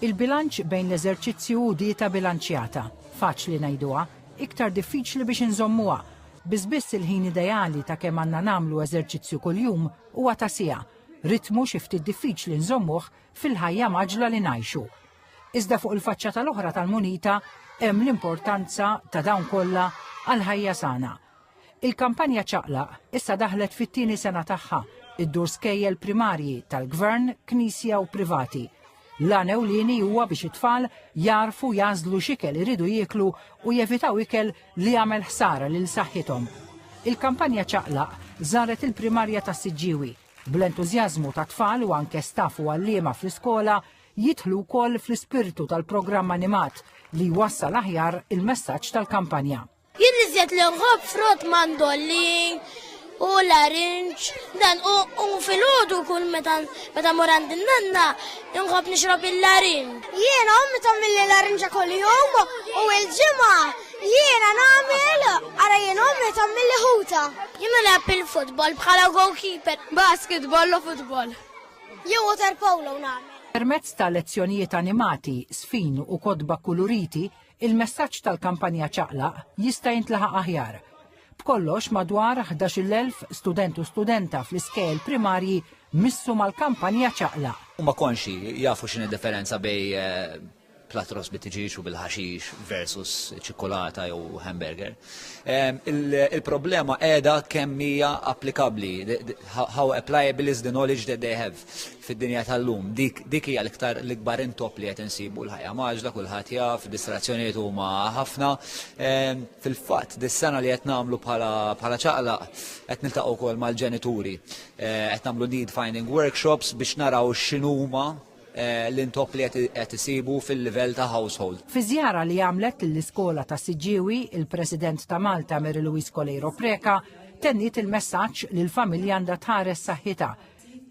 Il-bilanċ bejn l-eżerċizzju hu dieta bilanċjata. Faċli ngħiduha, iktar diffiċli biex inżommuha. Biss biss il-ħin ideali ta' kemm għandna nagħmlu eżerċizzju kuljum huwa ta' siegħa, ritmu xi ftit diffiċli nżommuh fil-ħajja mgħaġġla li ngħixu. Iżda fuq il-faċċata l-oħra tal-munita hemm l-importanza ta' dawn kollha għal ħajja sana. Il-kampanja Ċaqlaq issa daħlet fit-tieni sena tagħha, iddur skejjel primarji tal-Gvern, Knisja u privati. L-għan ewlieni huwa biex it-tfal jarfu jagħżlu x'ikel iridu jieklu u jevitaw ikel li jagħmel ħsara lil saħħithom. Il-kampanja Ċaqlaq żaret il-primarja tas-Siġġiewi bl-entużjażmu ta' tfal u anke staff u għalliema fl-iskola jidħlu wkoll fl-ispirtu tal-programm animat li jwassal aħjar il-messaġġ tal-kampanja. Jien iżjed li nħobb frott mandolin u larinġ dan u filgħodu kull meta meta mur għand in-nanna nħobb nixrob il-larinġ. Jiena ommi tagħmilli larinġa kuljum u l-ġimgħa jiena nagħmel ara jien ommi tagħmilli ħuta. Jiena nilgħab il-futbol bħala goalkeeper. Basketball u futbol. Jew water polo nagħmel. Permezz ta' lezzjonijiet animati, sfin u kotba kuluriti, Il-messaġġ tal-kampanja Ċaqlaq jista' jintlaħaq aħjar. B'kollox madwar 11,000 student u studenta fl-iskejjel primarji missu mal-kampanja Ċaqlaq. Huma konxji, jafu x'inhi d-differenza bejn platros bit-tiġieġ u bil-ħaxix versus ċikkulata jew hamburger. Il-problema qiegħda kemm hija applikabbli, how applicable is the knowledge that they have. fid-dinja tal-lum dik dik hija l-iktar l-ikbar intop li qed insibu l-ħajja maġla kulħadd jaf, distrazzjonijiet huma ħafna. Ehm, fil-fatt dis-sena li qed nagħmlu bħala ċaqlaq qed niltaqgħu wkoll mal-ġenituri. Ehm, qed nagħmlu need finding workshops biex naraw x'inhuma eh, l-intop li qed isibu fil-livell ta' household. Fi żjara li għamlet lill-iskola ta' Siġġiewi, il-President ta' Malta Mary Louise Coleiro Preca tenniet il-messaġġ li l-familja għandha tħares saħħitha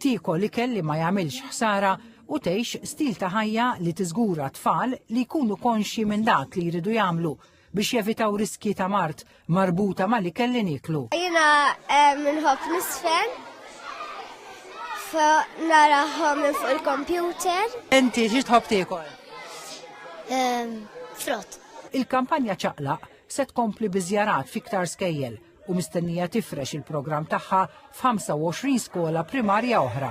Tiekol ikel li ma jagħmilx ħsara u tgħix stil ta' ħajja li tiżgura tfal li jkunu konxji minn dak li jridu jagħmlu biex jevitaw riskji ta' mard marbuta mal-ikel li nieklu. Jiena nħobb nisfen narahom minn fuq il-kompjuter. Inti xi tħobb tiekol? Frott. Il-kampanja ċaqlaq se tkompli biżjarat fiktar skejjel u mistennija tifrex il-programm tagħha f'25 skola primarja oħra.